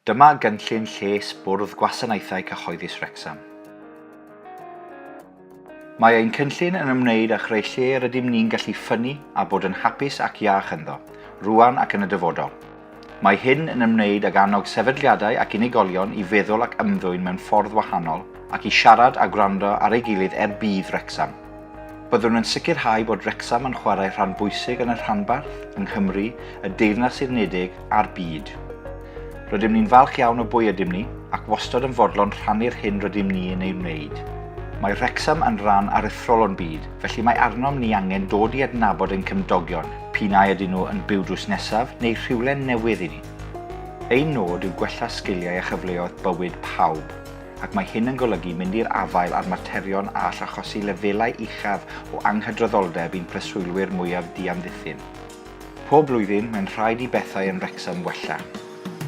Dyma gynllun lles Bwrdd Gwasanaethau Cyhoeddus Wrecsam. Mae ein cynllun yn ymwneud â chreu lle rydym ni'n gallu ffynnu a bod yn hapus ac iach ynddo, rŵan ac yn y dyfodol. Mae hyn yn ymwneud ag annog sefydliadau ac unigolion i feddwl ac ymddwyn mewn ffordd wahanol ac i siarad a gwrando ar ei gilydd er budd Wrecsam. Byddwn yn sicrhau bod Wrecsam yn chwarae rhan bwysig yn y rhanbarth, yng Nghymru, y Deyrnas Unedig a'r byd. Rydym ni'n falch iawn o bwy ydym ni ac wastod yn fodlon rhannu'r hyn rydym ni yn ei wneud. Mae Wrecsam yn ran aruthrol o'n byd, felly mae arnom ni angen dod i adnabod ein cymdogion, p'un ai ydyn nhw yn byw drws nesaf neu rhywle'n newydd i ni. Ein nod yw gwella sgiliau a chyfleoedd bywyd pawb. ac mae hyn yn golygu mynd i'r afael â'r materion a all achosi lefelau uchaf o anghydraddoldeb i'n preswylwyr mwyaf diamddiffyn. Pob blwyddyn, mae'n rhaid i bethau yn Wrecsam wella.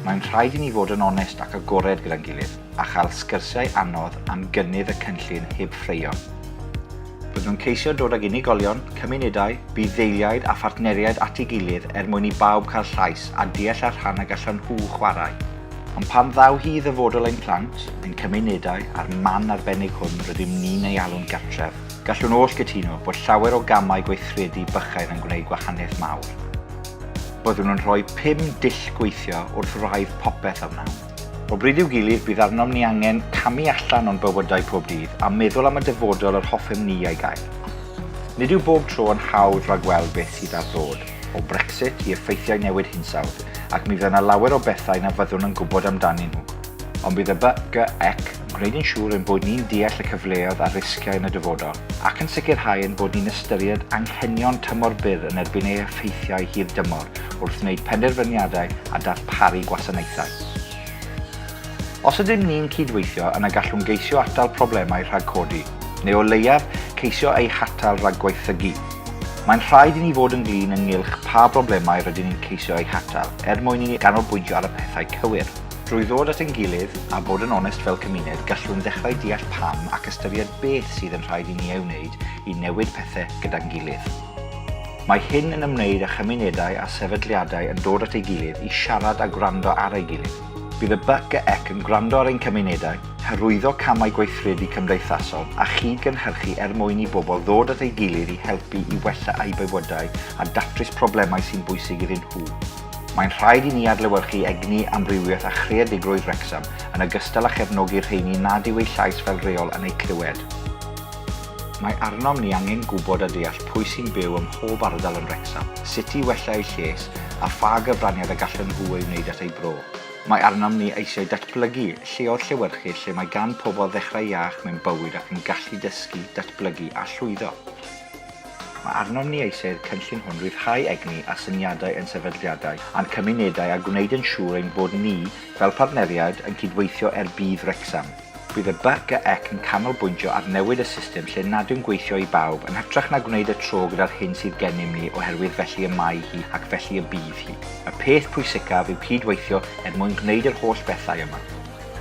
Mae'n rhaid i ni fod yn onest ac agored gyda'n gilydd, a chael sgyrsiau anodd am gynnydd y cynllun heb ffraeo. Byddwn yn ceisio dod ag unigolion, cymunedau, budd-ddeiliaid a phartneriaid at ei gilydd er mwyn i bawb cael llais a deall â'r rhan y gallan nhw chwarae. Ond pan ddaw hi i ddyfodol ein plant, ein cymunedau a'r man arbennig hwn rydym ni'n ei alw'n gartref, gallwn oll gytuno bod llawer o gamau gweithredu bychain yn gwneud gwahaniaeth mawr. Byddwn yn rhoi pum dull gweithio wrth wraidd popeth a wnawn. O bryd i'w gilydd, bydd arnom ni angen camu allan o'n bywydau pob dydd a meddwl am y dyfodol yr hoffem ni ei gael. Nid yw bob tro yn hawdd ragweld beth sydd ar ddod, o Brexit i effeithiau newid hinsawdd, ac mi fydd yna lawer o bethau na fyddwn yn gwybod amdanyn nhw. Ond bydd y BGEC yn gwneud yn siŵr ein bod ni'n deall y cyfleoedd a'r risgiau yn y dyfodol, ac yn sicrhau ein bod ni'n ystyried anghenion tymor byr yn erbyn ei effeithiau hir dymor wrth wneud penderfyniadau a darparu gwasanaethau. Os ydym ni'n cyd-weithio, yna gallwn geisio atal problemau rhag codi. neu o leiaf ceisio eu hatal rhag gwaethygu. Mae'n rhaid i ni fod yn flin ynghylch pa broblemau rydyn ni'n ceisio eu hatal er mwyn i ni ganolbwyntio ar y pethau cywir. Drwy ddod at ein gilydd a bod yn onest fel cymuned, gallwn ddechrau deall pam ac ystyried beth sydd yn rhaid i ni ei wneud i newid pethau gyda'n gilydd. Mae hyn yn ymwneud â chymunedau a sefydliadau yn dod at ei gilydd i siarad a gwrando ar ei gilydd. Bydd y BCEC yn gwrando ar ein cymunedau, hyrwyddo camau gweithredu cymdeithasol a chyd-gynhyrchu er mwyn i bobl ddod at ei gilydd i helpu i wella eu bywydau a datrys problemau sy'n bwysig iddyn nhw. Mae'n rhaid i ni adlewyrchu egni, amrywiaeth a chreadigrwydd Wrecsam, yn ogystal â chefnogi'r rheini nad yw eu llais fel rheol yn eu clywed. Mae arnom ni angen gwybod a deall pwy sy'n byw ym mhob ardal yn Wrecsam, sut i wella eu lles a pha gyfraniad y gallen nhw ei wneud at eu bro. Mae arnom ni eisiau datblygu lleoedd llewyrchus lle mae gan pobl ddechrau iach mewn bywyd ac yn gallu dysgu, datblygu a llwyddo. Mae arnom ni eisiau'r cynllun hwn ryddhau egni a syniadau ein sefydliadau a'n cymunedau a gwneud yn siŵr ein bod ni, fel partneriaid, yn cydweithio er budd Wrecsam. Bydd y BRCGEC yn canolbwyntio ar newid y system lle nad yw'n gweithio i bawb, yn hytrach na gwneud y tro gyda'r hyn sydd gennym ni oherwydd felly y mae hi ac felly y bydd hi. Y peth pwysicaf yw cyd-weithio er mwyn gwneud yr holl bethau yma.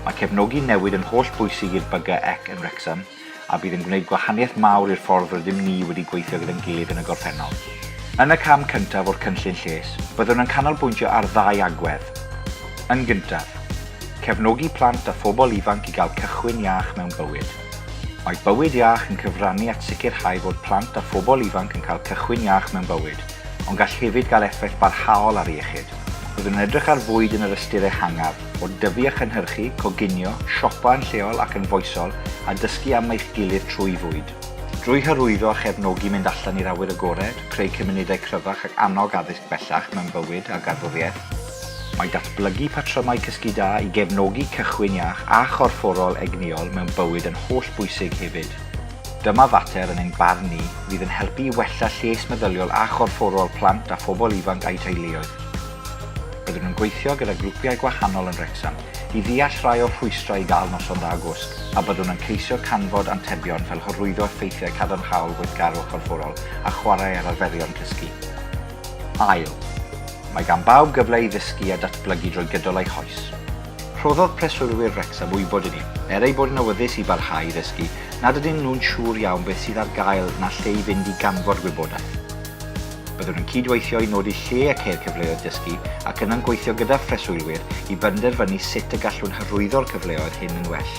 Mae cefnogi newid yn holl bwysig i'r BRCGEC yn Wrecsam, a bydd yn gwneud gwahaniaeth mawr i'r ffordd rydym ni wedi gweithio gyda'n gilydd yn y gorffennol. Yn y cam cyntaf o'r cynllun lles, byddwn yn canolbwyntio ar ddau agwedd. Yn gyntaf, cefnogi plant a phobl ifanc i gael cychwyn iach mewn bywyd. Mae bywyd iach yn cyfrannu at sicrhau fod plant a phobl ifanc yn cael cychwyn iach mewn bywyd, ond gall hefyd gael effaith barhaol ar iechyd. Byddwn yn edrych ar fwyd yn yr ystyr ehangaf, o dyfu a chynhyrchu, coginio, siopa yn lleol ac yn foesol, a dysgu am eich gilydd trwy fwyd. Drwy hyrwyddo a chefnogi mynd allan i'r awyr agored, creu cymunedau cryfach ac annog addysg bellach mewn bywyd a garddwriaeth, mae datblygu patrymau cysgu da i gefnogi cychwyn iach a chorfforol egnïol mewn bywyd yn hollbwysig hefyd. Dyma fater, yn ein barn ni, fydd yn helpu i wella lles meddyliol a chorfforol plant a phobl ifanc a'u teuluoedd. Byddwn yn gweithio gyda grwpiau gwahanol yn Wrecsam i ddeall rhai o'r rhwystrau i gael noson dda gwsg a byddwn yn ceisio canfod antebion fel hyrwyddo effeithiau cadarnhaol gweithgarwch corfforol a chwarae ar arferion cysgu. Ail. Mae gan bawb gyfle i ddysgu a datblygu drwy gydol eu hoes. Rhoddodd preswylwyr Wrecsam wybod i ni, er eu bod yn awyddus i barhau i ddysgu, nad ydyn nhw'n siŵr iawn beth sydd ar gael na lle i fynd i ganfod gwybodaeth. Byddwn yn cyd-weithio i nodi lle ac er cyfleoedd dysgu ac yna'n gweithio gyda phreswylwyr i benderfynu sut y gallwn hyrwyddo'r cyfleoedd hyn yn well.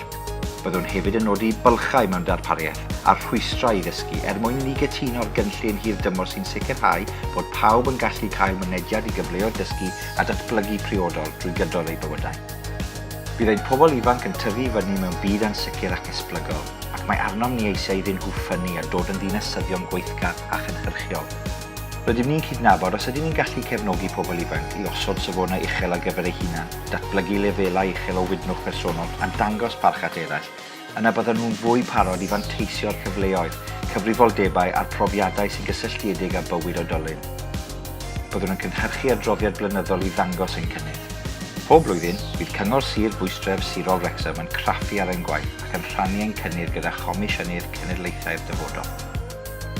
Byddwn hefyd yn nodi bylchau mewn darpariaeth a'r rhwystrau i ddysgu er mwyn i ni gytuno'r gynllun hir-dymor sy'n sicrhau bod pawb yn gallu cael mynediad i gyfleoedd dysgu a datblygu priodol drwy gydol eu bywydau. Bydd ein pobl ifanc yn tyfu i fyny mewn byd ansicr ac esblygol, ac mae arnom ni eisiau iddyn nhw ffynnu a dod yn ddinasyddion gweithgar a chynhyrchiol. Rydym ni'n cydnabod os ydyn ni'n gallu cefnogi pobl ifanc i osod safonau uchel ar gyfer eu hunain, datblygu lefelau uchel o wydnwch bersonol a dangos parch at eraill, yna byddan nhw'n fwy parod i fanteisio ar cyfleoedd, cyfrifoldebau a'r profiadau sy'n gysylltiedig â bywyd oedolyn. Byddwn yn cynhyrchu adroddiad blynyddol i ddangos ein cynnydd. Pob blwyddyn, bydd Cyngor Sir Bwystref Sirol Wrecsam yn craffu ar ein gwaith ac yn rhannu ein cynnydd gyda Chomisiynydd Cenedlaethau'r Dyfodol.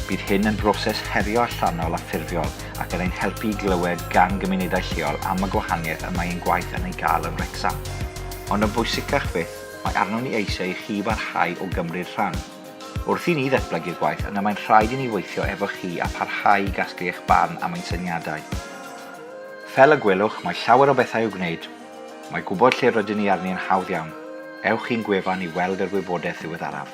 Bydd hyn yn broses herio allanol a ffurfiol ac yn ein helpu i glywed gan gymunedau lleol am y gwahaniaeth y mae ein gwaith yn ei gael yn Wrecsam. Ond yn bwysicach fyth, mae arnom ni eisiau i chi barhau o gymryd rhan. Wrth i ni ddatblygu'r gwaith yna mae'n rhaid i ni weithio efo chi a pharhau i gasglu eich barn am ein syniadau. Fel y gwelwch, mae llawer o bethau i'w gwneud. Mae gwybod lle rydyn ni arni yn hawdd iawn. Ewch i'n gwefan i weld yr wybodaeth ddiweddaraf.